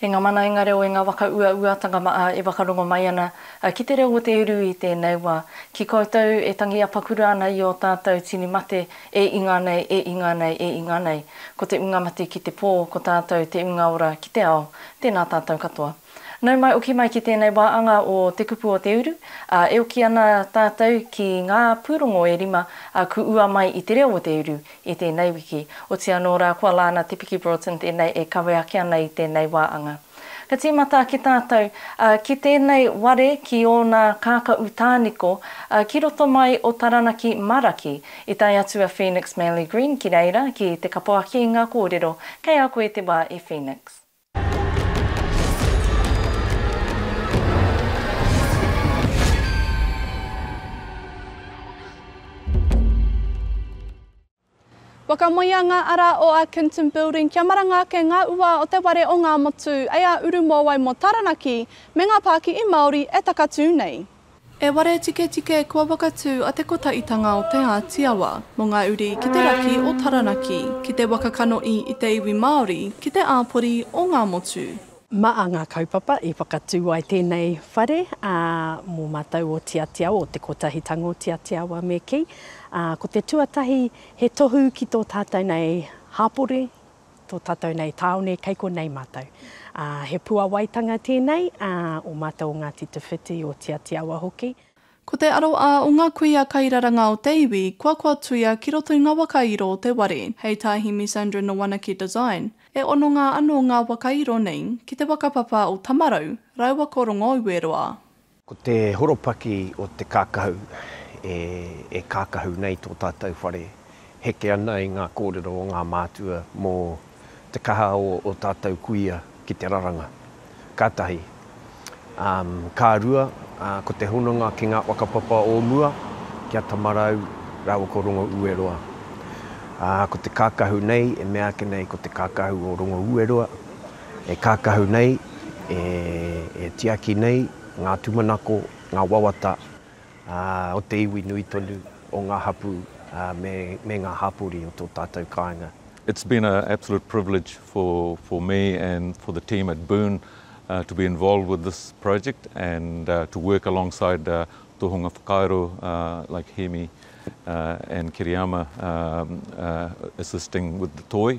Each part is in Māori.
E ngā mana, e ngā reo, e ngā whakauauatanga maʻa e whakarongo mai ana ki te reo o te uru i tēnei wā. Ki koutou e tangi apakura ana i ō tātou tini mate, e inga nei, e inga nei, e inga nei. Ko te unga mati ki te pō, ko tātou te unga ora ki te ao. Tēnā tātou katoa. Nau mai oki mai ki tēnei wā anga o Te Kupu o Te Uru, ā, e oki ana tātou ki ngā pūrongo e rima a Ku Ua Mai i te Reo o Te Uru i tēnei wiki. Otiia anō rā, ko a Lana Te Piki Broughton tēnei e kawe ake ana i tēnei wā anga. Ka tīmata ki tātou, ā, ki tēnei ware ki ōna kākaʻu tāniko, ā, ki roto mai o Taranaki Maraki, i tae atu a Phoenix Manley Green ki reira ki te kapoaki i ngā kōrero kei a koe te wā i Phoenix. Whakamoea ngā ara o Arkinton Building kia maranga ake ngā ua o te ware o Ngāmotu, ei a Urumōwai mō Taranaki, me ngā pākihi Māori e takatū nei. E ware tiketike kua whakatū a Te Kotaitanga o Te Āti Awa mō ngā uri ki te raki o Taranaki, ki te waka kanohi i te iwi Māori, ki te āpori o Ngāmotu. Mā ngā kaupapa i whakatū ai tēnei whare mō mātou o Te Āti Awa, o Te Kotahitanga o Te Āti Awa me kī, ko te tuatahi he tohu ki tō tātou nei hapori, tō tātou nei tāone kei konei mātou. He puawaitanga tēnei o mātou o Ngāti Te Whiti, o Tiatiawa hoki. Ko te aroā o ngā kuia kairaranga o te iwi kua kua tuia ki roto i ngā wakairo o te ware, hei tā Hemi Sandra Nowanaki Design. E hononga anō ngā wakairo nei ki te whakapapa o Tamarau rāua ko Rongoueroa. Ko te horopaki o te kākahu e kākahu nei tō tātou whare, heke ana i ngā kōrero o ngā mātua mō te kaha o ō tātou kuia ki te raranga. Ka tahi. Ka rua, ko te hononga ki ngā whakapapa o mua, ki a Tamarau rāua ko Rongoueroa. Ko te kākahu nei, e mea ake nei ko te kākahu o Rongoueroa, E kākahu nei, e tiaki nei ngā tūmanako, ngā wawata o te iwi nui tonu, o ngā hapū me ngā hāpori o tō tātou kāinga. It's been a absolute privilege for for me and for the team at Boon to be involved with this project and to work alongside tohunga whakairo like Hemi and Kiriyama assisting with the toi.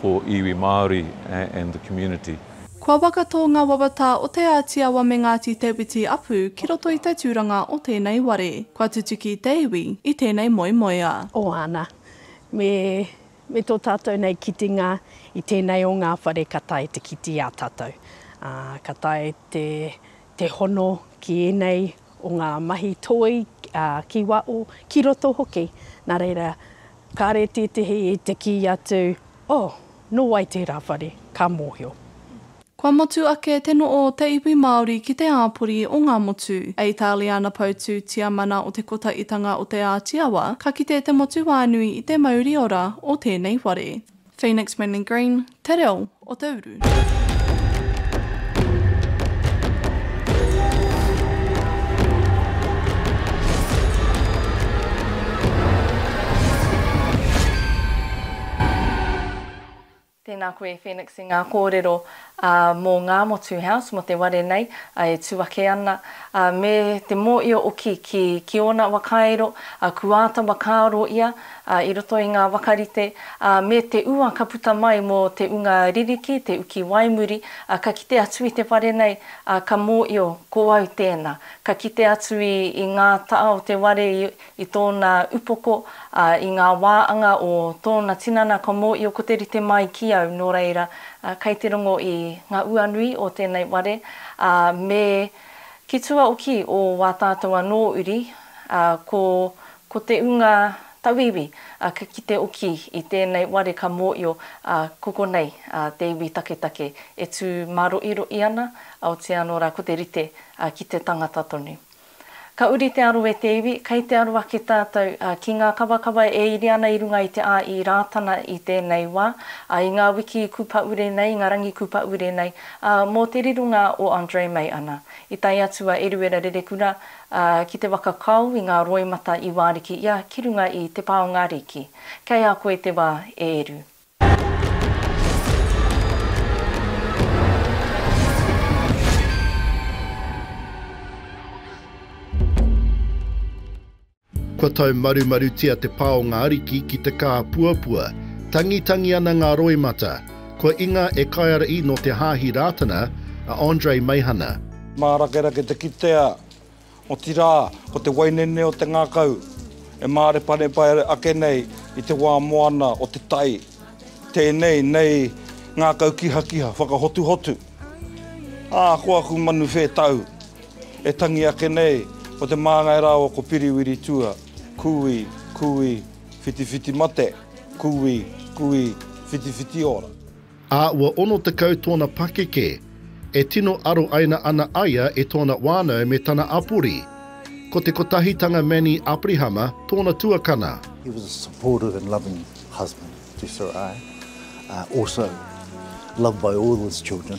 for iwi Māori and the community. Kua wakato ngā wawata o Te Āti Awa me Ngāti Te Witi Apu ki roto i te tūranga o tēnei ware, kua tutuki te iwi i tēnei moemoea. Ohana, me, me tō tātou nei kitenga i tēnei o ngā whare ka tae te kite i a tātou, ā, ka tae te, te hono ki ēnei o ngā mahi toi, ki waho, ki roto hoki. Nā reira, kāre tētehi i te kī atu, Oh, nō wai tērā whare? Ka mōhio. Kua motu ake te noho o te iwi Māori ki te āpori o ngā motu. A Itāliana Poutū Tiamana o Te Kotaitanga o Te Āti Awa, ka kite te motuwānui i te mauriora o tēnei ware. Phoenix Manly Green, te reo o te uru. Tēnā koe Phoenix i ngā kōrero. ā, mō ngā motu house, mō te ware nei, ā, e tū ake ana, ā, me te mōio oki ki, ki ōna wakairo, ā, ku āta wakaaro ia, ā, i roto i ngā wakarite, ā, me te ua ka puta mai mō te unga ririki, te uki waimuri, ā, ka kite atu i te ware nei, ā, ka mōio, ko au tēnā. Ka kite atu i, i ngā taha o te ware i, i tōna upoko, ā, i ngā wā anga o tōna tinana ka mōio ko te rite mai ki au, nō reira, kei te rongo i ngā uanui o tēnei ware, ā, me ki tua oki o wā tātou anō uri, ā, ko, ko te ūnga tauiwi, ā, ka kite oki i tēnei ware ka mōio, ā, ko konei, ā, te iwi taketake e tū māroʻiroʻi ana, aotea anō rā ko te rite, ā, ki te tangata tonu. Ka uri te aro e te iwi, kei te aro ake tātou ki ngā kawakawa e iri ana i runga i te a i Rātana i tēnei wā, ā, i ngā wiki i Kupaure nei, i ngā rangi Kupaure nei, ā, mō te rironga o Andre Mei ana. I tae atu a Eruera Rerekura, ā, ki te waka kao i ngā roimata i Wāriki ia ki runga i Te Pā o ngā Rīki. Kei a koe te wā, e Eru. Kua taumarumarutia te pā o ngā ariki ki te kāpuapua. Tangitangi ana ngā roimata. Kua inga e Kaiara'i nō te Hāhi Rātana, a Andre Meihana. Mārakerake te kitea Otirā, ko te wainene o te ngākau e māreparepa ake nei i te wā moana o te tai. Tēnei nei ngākau kihakiha, whakahotuhotu. Ā, ko aku manu whētau e tangi ake nei, ko te māngai rā o ko Piriwiri Tua, Kui, kui, whitiwhiti mate, kui, kui, whitiwhiti ora. ā, ua 60 tōna pakeke, e tino aro aina ana aia e tōna wānau me tana apori. Ko te kotahitanga Manny Aprihama tōna tuakana. He was a supportive and loving husband to Soraya, also loved by all his children.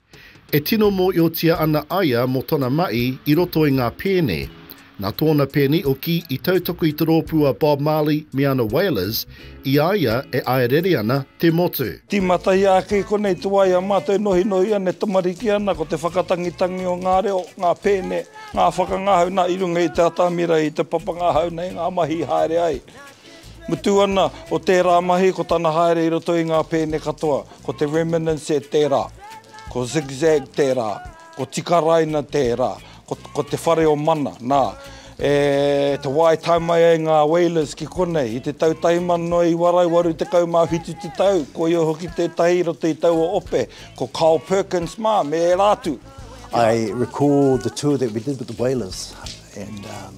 E tino mōiotia ana aia mō tona maʻi i roto i ngā pēne. Na tōna pēni oki i tautoko i te rōpū a Bob Marley me ana Wailers, i a ia e āerere ana te motu. Tīmatahi ake i konei te wā i a mātou e nohinohi ana, e tamariki ana, ko te whakatangitangi o ngā reo, ngā pēne, ngā whakangahau, na, i runga i te atamira, i te papanga ahau nei ngā mahi i haere ai. Mutu ana o tērā mahi ko tana haere i roto i ngā pēne katoa, ko te Reminiscence tērā, ko Zigzag tērā, ko Tikaraina tērā, ko, ko te whare o Mana, nā, e te wā i tae mai ai ngā Whalers ki konei, i te tau 1987 te tau, koia hoki tētahi i roto i taua ope, ko Carl Perkins mā, me ērā atu. I recall the tour that we did with the Whalers and, um.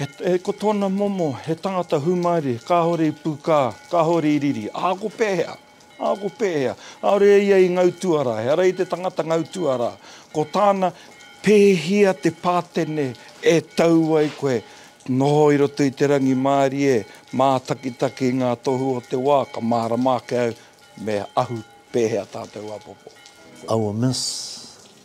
He ko tōna momo, he tangata hūmaere, kāore i pūkā, kāore i riri. Ā, ko pēhea? Ā, ko pēhea? Kāore e ia i ngau tuarā, he ara i te tangata ngau tuarā. Ko tāna, pēhea te pātene e tau ai koe, noho i roto i te rangimārie, mātakitaki i ngā tohu o te wā, ka mārama ake au, me ahu pēhea tātou apopo. Our Miss,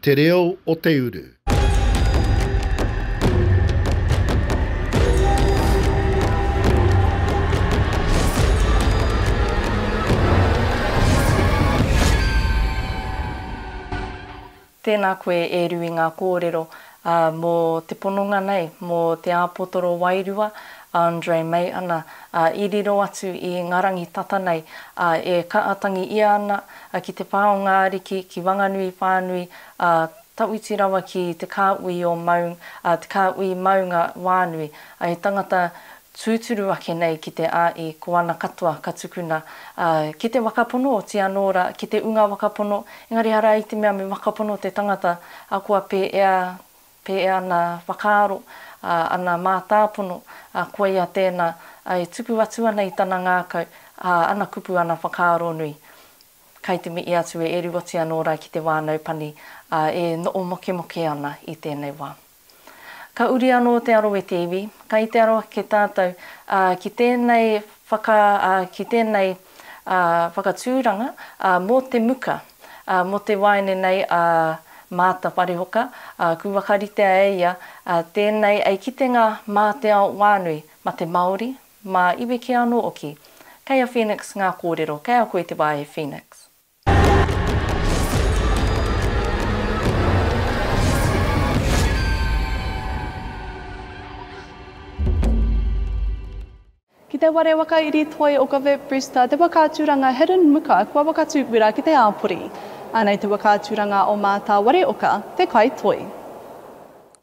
Te reo o te uru. Tēnā koe e Rui ngā kōrero mō te pononga nei, mō te āpotoro wairua a Andre Meiana i riro atu i ngā rangi tata nei e kaatangi ia ana A ki te pā o ngā ariki, ki Wanganui whānui, a, tawhiti rawa ki te kāuii o Maung, a, te kāuii Maunga wānui, a he tangata tūturu ake nei ki te āi, ko ana katoa ka tukuna, a, ki te wakapono oti anō ra, ki te unga wakapono, engari arā i te mea me wakapono te tangata, a kua pēea Pē ana whakaaro, ā, ana mātāpono, ā, koia tēnā, ā, e tuku atu ana i tana ngākau, ā, ana kupu, ana whakaaro nui. Kai te mihi atu e Eruoti anō rā ki te wānau pani, ā, e noʻo mokemoke ana i tēnei wā. Ka uri anō te aro e te iwi, kai te aro ake tātou, ā, ki tēnei whaka, ā, ki tēnei, ā, whakatūranga, ā, mō te muka. Ā, mō te waeine nei a Maata Parehoka, ā, kū whakaritea e ia, ā, tēnei ei kitenga mā te ao wānui, ma te Māori, mā iwi kē anō oki. Kei a Phoenix ngā kōrero, kei a koe te wā e Phoenix. Ki te ware whakairi toi o Govett Brewster te waka aturanga Hidden Muka kua whakatūwera ki te āpori. Anei te waka aturanga o Mātāwareoka, te kai toi.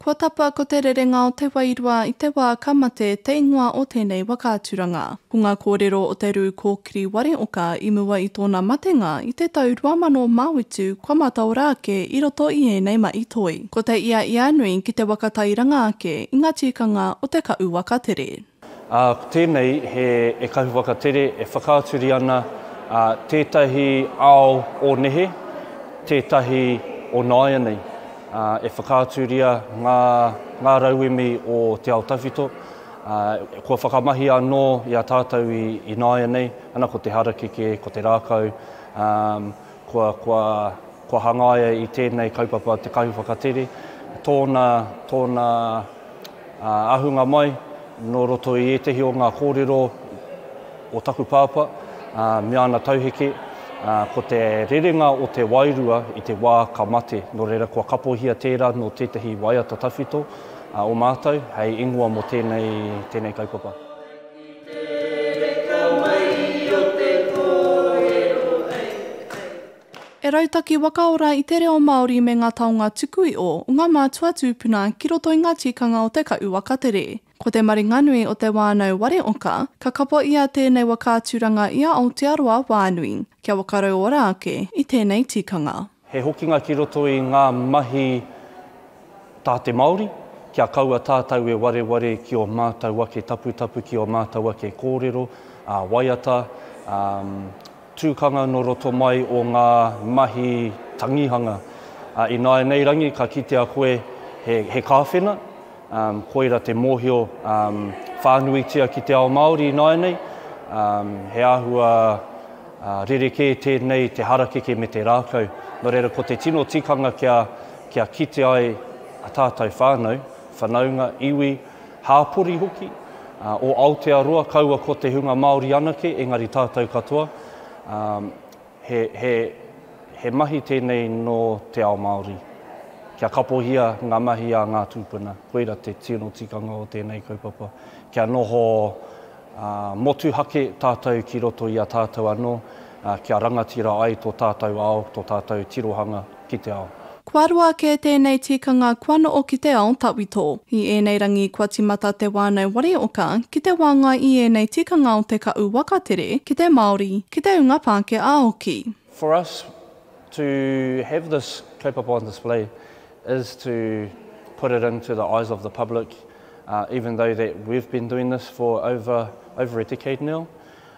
Kua tapa ko te rerenga o te wairua i te wā ka mate te ingoa o tēnei waka aturanga. Ko ngā kōrero o te rū kōkiri wareoka i mua i tōna matenga i te tau 2008 kua mataora ake i roto i ēnei mahi toi. Ko te ia ia nui ki te waka tairanga ake i ngā tikanga o te kaʻu waka tere. Ā, ko tēnei he ekahu whakatere e whakaaturi ana ā tētahi ao o nehe, tētahi o nāianei. Ā, e whakaaturia ngā, ngā rauemi o te ao tawhito, ā, kua whakamahia anō i a tātou i, i nāianei, ana ko te harakeke, ko te rākau, ā, Kua, kua, kua hangaia i tēnei kaupapa te kahu whakatere, tōna, tōna ahunga mai nō roto i ētehi o ngā kōrero o taku pāpā me ana tauheke, ko te rerenga o te wairua i te wā ka mate, nō reira kua kapohia tērā nō tētehi waiata tawhito o mātou hei ingoa mō tēnei, tēnei kaupapa. E rautaki wakaora i te reo Māori me ngā taonga tuku iho o ngā mātua tūpuna ki roto i ngā tikanga o te kaʻu wakatere. Ko te maringanui o Te Wānau Ware Oka, ka kapo ʻia tēnei waka aturanga i a Aotearoa wānui, kia whakarauora ake i tēnei tikanga. He hokinga ki roto i ngā mahi tā te Māori, kia kaua tātau e wareware ki ō mātau ake taputapu, ki ō mātau ake kōrero, ā, waiata, ā, tūkanga nō roto mai o ngā mahi tangihanga. Ā, ināianei rangi ka kitea koe he, he kāwhena, Koira te mōhio whānuitia ki te ao Māori ināianei. He āhua rerekē tēnei te harakeke me te rākau. Nō reira ko te tino tikanga kia kite ai a tātou whānau, whanaunga, iwi, hāpori hoki, o Aotearoa kaua ko te hunga Māori anake engari tātou katoa. He, he, he mahi tēnei nō te ao Māori. Kia kapohia ngā mahi a ngā tūpuna, koira te tino tikanga o tēnei kaupapa. Kia noho ā, motuhake tātou ki roto i a tātou anō, ā, kia rangatira ai tō tātou ao, tō tātou tirohanga. ki te ao. Kua roa kē tēnei tikanga kua noʻo ki te ao tawhito. I ēnei rangi kua timata te wānau wari oka ki te wāngai i ēnei tikanga o te kaʻu waka tere ki te Māori, ki te unga Pākehā hoki. For us to have this kaupapa on display is to put it into the eyes of the public even though that we've been doing this for over over a decade now.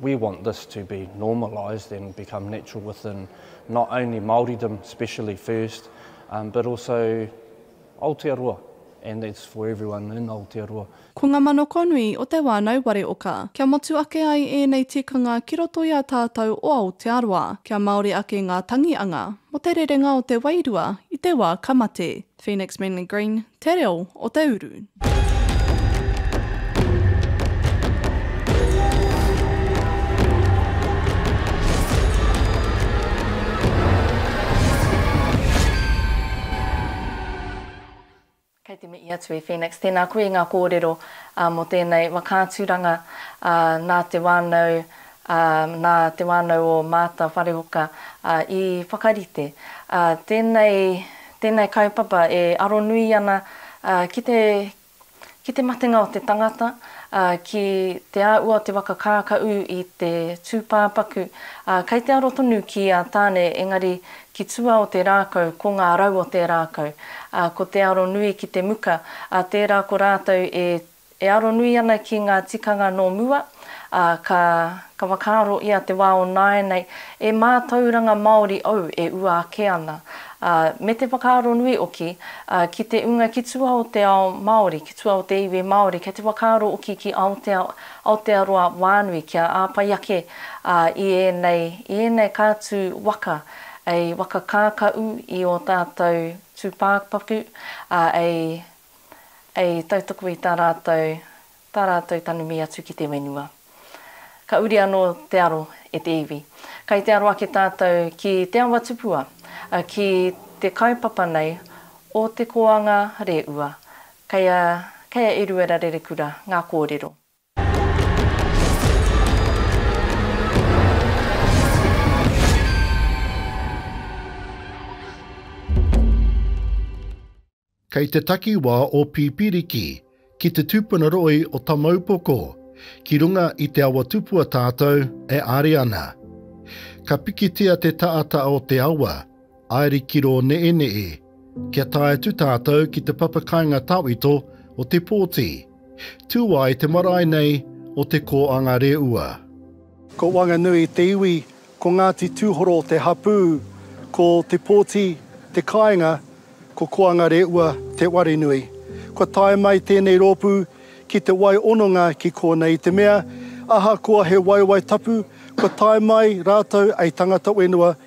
We want this to be normalised and become natural within not only Māoridom, especially first, um, but also Aotearoa. And that's for everyone in Aotearoa. Ko ngā manakonui o Te Wānau Ware Oka, kia motu ake ai ēnei tikanga ki roto i a tātou o Aotearoa, kia Māori ake ngā tangi anga mō te rerenga o te wairua i te wā ka mate. Phoenix Manly Green, te reo o te uru. Kei te mihi atu e Phoenix. Tēnā koe i ngā kōrero mō tēnei waka aturanga nā te whānau, nā te whānau o Maata Wharehoka i whakarite tēnei Tēnei kaupapa e aro nui ana ki te ki te matenga o te tangata, ki te āhua o te waka kākaʻu i te tūpāpaku, kei te aro tonu ki a Tāne engari ki tua o te rākau ko ngā rau o te rākau, ko te aro nui ki te muka, tērā ko rātou e E aro nui ana ki ngā tikanga nō mua, ā, ka, ka whakaaro i a te wā o nāianei, e mātauranga Māori au e ua ake ana, ā, me te whakaaro nui hoki, ā, ki te ūnga ki tua o te ao Māori, ki tua o te iwi Māori, kei te whakaaro hoki ki Aotea, Aotearoa wānui, kia āpai ake, ā, i ēnei, i ēnei ka tū waka, ei waka kākaʻu i ō tātou tūpāpaku, ā, ei. I tautoko i tā rātou, tā rātou tanumi atu ki te whenua. Ka uri anō te aro e te iwi. Kai te aro ake tātou ki te awa tupua, ki te kaupapa nei o te koanga rēua, kei a, kei a Eruera Rerekura ngā kōrero. Kei te takiwā o Pipiriki, ki te tupuna roi o Tamaupoko, ki runga i te awa tupua tātou e are ana. Ka pikitia te taata o te awa, aeri ki rō neeneē, kia tae atu tātou ki te papa kainga tawhito o Te Pōti, tū ai te marae nei o Te Kōanga Reua. Ko Wanganui te iwi, ko Ngāti Tūhoro te hapū, ko Te Pōti te kāinga, ko Koanga Reua te ware nui. Kua tae mai tēnei rōpū ki te wai ononga ki kōnei i te mea, ahakoa he waewae tapu, kua tae mai rātou ei tangata whenua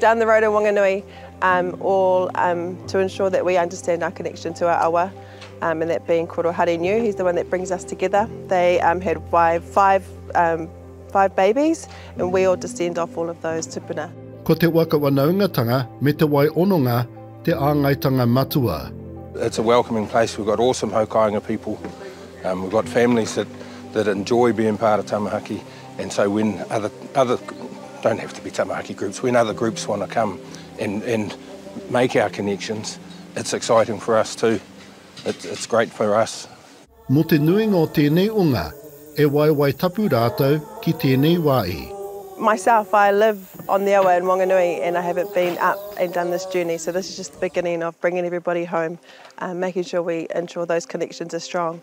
Down the road in Wanganui um all um to ensure that we understand our connection to our awa um and that being Koro Harinyu, he's the one that brings us together. They um had five five um five babies and we all descend off all of those tupuna. Ko te waka wanaungatanga me te wai ononga te āngaitanga matua. It's a welcoming place, we've got awesome haukainga people, um we've got families that that enjoy being part of Tamahaki. And so when other, other, don't have to be tamaraki groups, when other groups want to come and, and make our connections, it's exciting for us too, it's, it's great for us. Mō te nuinga o tēnei o ngā, e waewae tapu rātou ki tēnei wā i. Myself, I live on the awa in Wanganui and I haven't been up and done this journey, so this is just the beginning of bringing everybody home, making sure we ensure those connections are strong.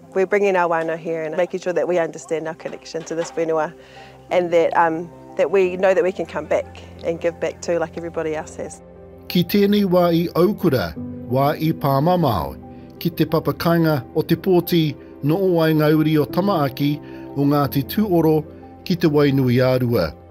We're bringing our wānau here and making sure that we understand our connection to this whenua and that um, that we know that we can come back and give back too like everybody else has. Ki tēnei wā i aukura, wā i pāmamao, ki te papa kainga o te pōti no o Waengauri o Tamaaki, o Ngāti Tūoro ki Te Wainuiārua.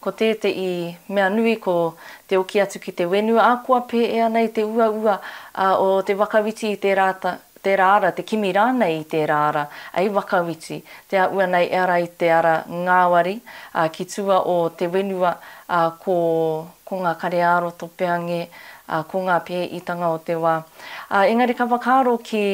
Ko tēteʻi mea nui ko te oki atu ki te wenu, a koa pēea nei te uaua o te wakawiti i tērā tērā ara, te kimi rānei i tērā ara, ai wakawiti, te aʻua nei e ara i te ara ngāwari, a ki tua o te wenua, a ko ko ngā kare-ā-aro topeange, a ko ngā pēitanga o te wā. A engari ka whakaaro ki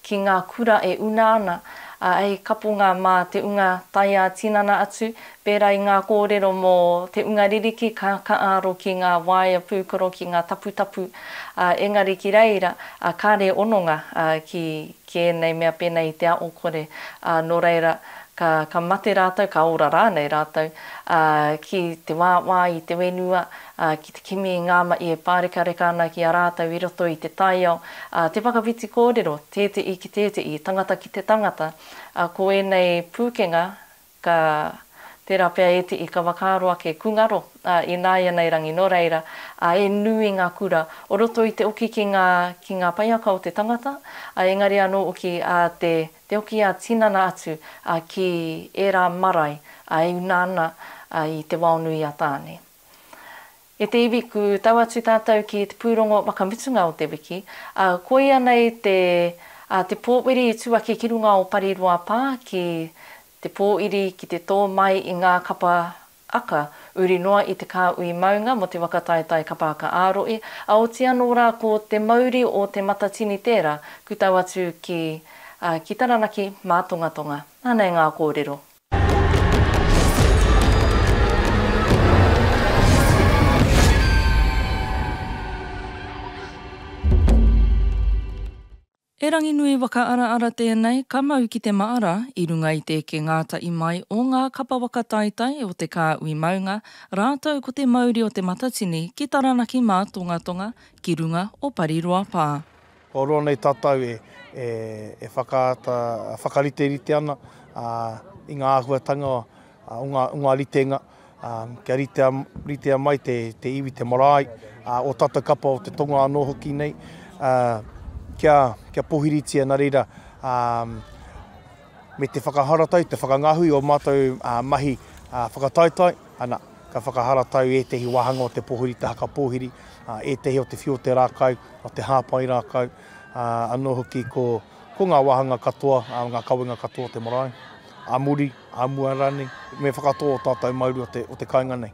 ki ngā kura e una ana, a hei kaponga mā te unga taiā tinana atu, Pērā i ngā kōrero mō te unga ririki ka, ka āro ki ngā waea pūkoro, ki ngā taputapu, ā, engari ki reira, ā, kāre hononga, ā, ki, ki ēnei mea pēnei i te aokore, ā, nō reira, ka, ka mate rātou, ka ora rānei rātou, ā, ki te wāwā i te whenua, ā, ki te kimi i ngā mahi e pārekareka ana ki a rātou i roto i te taiao, ā, te whakawhiti kōrero, tētehi ki tētehi, tangata ki te tangata, ā, ko ēnei pūkenga, Ka pērā pea e te ika whakaaro ake kungaro a ināianei rangi nō reira, ā, e nui ngā kura o roto i te oki ki ngā, ki ngā paiaka o te tangata, ā, engari anō oki, ā, te, te oki ā-tinana atu, ā, ki ērā marae, ā, e una ana, ā, i te wao nui a Tāne. E te iwi ku tau atu tatou ki te purongo wakamutunga o te wiki, a koia nei te a te powiri i tu ake ki runga o Pariroa pa ki te poiri ki te to mai i nga kapa aka uri noa i te kaui maunga mo te waka taetae kapa aka aroe, a oti ano ra ko te mauri o te matatini tera ku tau atu ki a ki Taranaki ma Tongatonga. Anei nga korero. He ranginui whakaaraara tēnei ka mau ki te maara i runga i te eke ngātahi mai o ngā kapa whakataetae o te kāhui maunga rātou ko te mauri o Te Matatini ki Taranaki Mātongatonga ki runga o Pariroa Pā. Kua roa nei tātou e whakaata, whakariterite ana i ngā āhuatanga o ngā ritenga kia ritea mai te iwi, te marae, ō tātou kapa o te tonga anō hoki nei kia pōhiritia nā reira me te whakaharatau, te whakangahui o mātou mahi whakataetae, ana, ka whakaharatau ētehi wāhanga o te pōhirita haka pōhiri, ētehi o te whiu o te rākau, o te hāpai rākau, anō hoki ko, ko ngā wāhanga katoa, ngā kawenga katoa o te marae, a muri, a mua rānei, me whakatō ō tātou mauri o te, o te kāinga nei.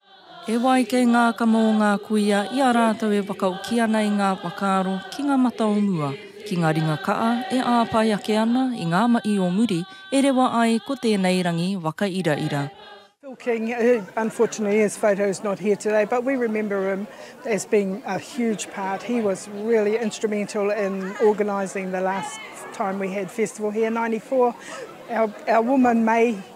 He wai kei ngā kama o ngā kuia i a rātou e wakaoki ana i ngā whakaaro ki ngā mata o mua, ki ngā ringa ka'a e āpae ake ana i ngā ma'i o muri e rewa ai ko tēnei rangi whakairaira. Phil King, who unfortunately his photo is not here today but we remember him as being a huge part, he was really instrumental in organising the last time we had festival here, ninety four, our woman May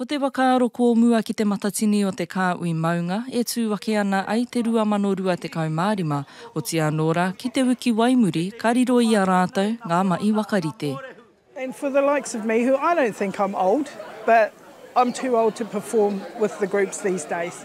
Ko te whakaaro kōmua ki Te Matatini o te Kāhui Maunga e tū ake ana ai te 2025, otīa anō rā ki te uki wai muri ka riro i a rātou ngā mahi whakarite. And for the likes of me who I don't think I'm old but I'm too old to perform with the groups these days.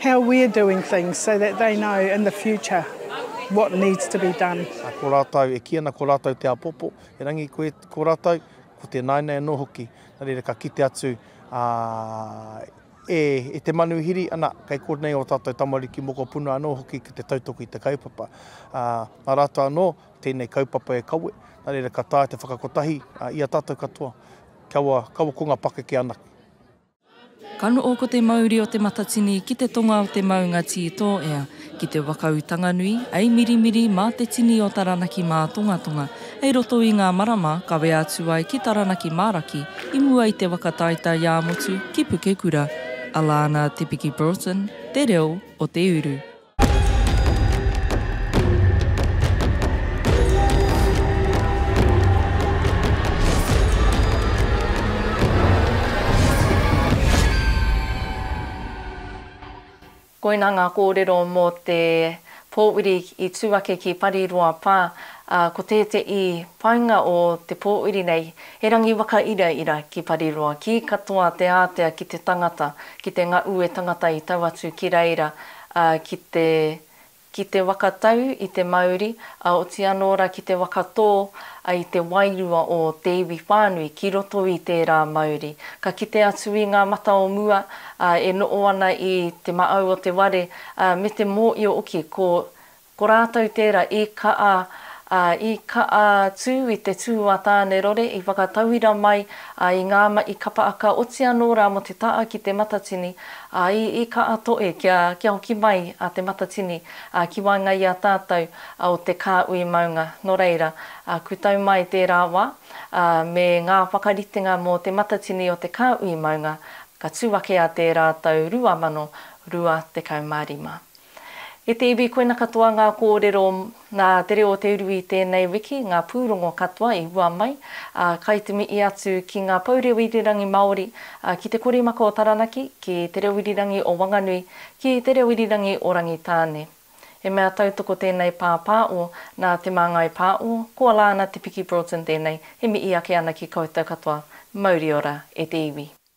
How we're doing things so that they know in the future what needs to be done. A ko ratou e ki ana ko ratou te apopo, erangi koe ko ratou, ko te naina ano hoki, na reira ka kite atu a e e te manuhiri ana kei konei o tatou tamariki mokopuna ano hoki ki te tautoki te kaupapa. A na ratou ano tenei kaupapa e kawe, na reira ka tae te whakakotahi a ia tatou katoa, kaua kaua ko nga pakeke anake. Ka noho ko te mauri o Te Matatini ki te tonga o te maunga Tītōea, ki te waka Utanganui, hei mirimiri mā te tini o Taranaki mā Tongatonga, hei roto i ngā marama kawe atu ai ki Taranaki mā Raki, i mua i te waka taetae ā-motu ki Pukekura. Alana Te Piki Broughton, Te Reo o te Uru. Koina ngā kōrero mō te pōuri i tū ake ki Pariroa Pā, ā, ko tēteī painga o te pōuri nei, he rangi whakairaira ki Pariroa, kī katoa te ātea ki te tangata, ki te ngaue tangata i tau atu ki reira, ā, ki te, ki te waka tau i te mauri, ā, oti anō rā ki te waka tō, ā, i te wairua o te iwi whānui ki roto i tērā mauri. Ka kite atu i ngā mata o mua, ā, e noʻo ana i te maʻau o te ware, ā, me te mōʻio hoki, ko, Ko rātou tērā i kaʻa, ā, i kaʻa tū i te tū a Tānerore, i whakatauira mai, ā, i ngā maʻi kapa aka oti anō rā mō te taʻa ki te matatini, ā, i, i kaʻa toe kia, kia hoki mai a te matatini, ā, ki waenga i a tātou, ā, o te kāhui maunga. Nō reira, ā, kū tau mai tērā wā, ā, me ngā whakaritenga mō te matatini o te kāhui maunga, ka tū ake a tērā tau 2025. E te iwi koina katoa ngā kōrero nā Te Reo o Te Uru i tēnei wiki, ngā pūrongo katoa i hua mai, ā, kai te mihi atu ki ngā pou reo irirangi Māori, ā, ki te korimaka o Taranaki, ki Te Reo Irirangi o Wanganui, ki Te Reo Irirangi o Rangitāne. He mea tautoko tēnei pāpāo nā Te Māngai Pāo, ko Alana Te Piki Broughton tēnei, e mihi ake ana ki koutou katoa, mauri ora e te iwi.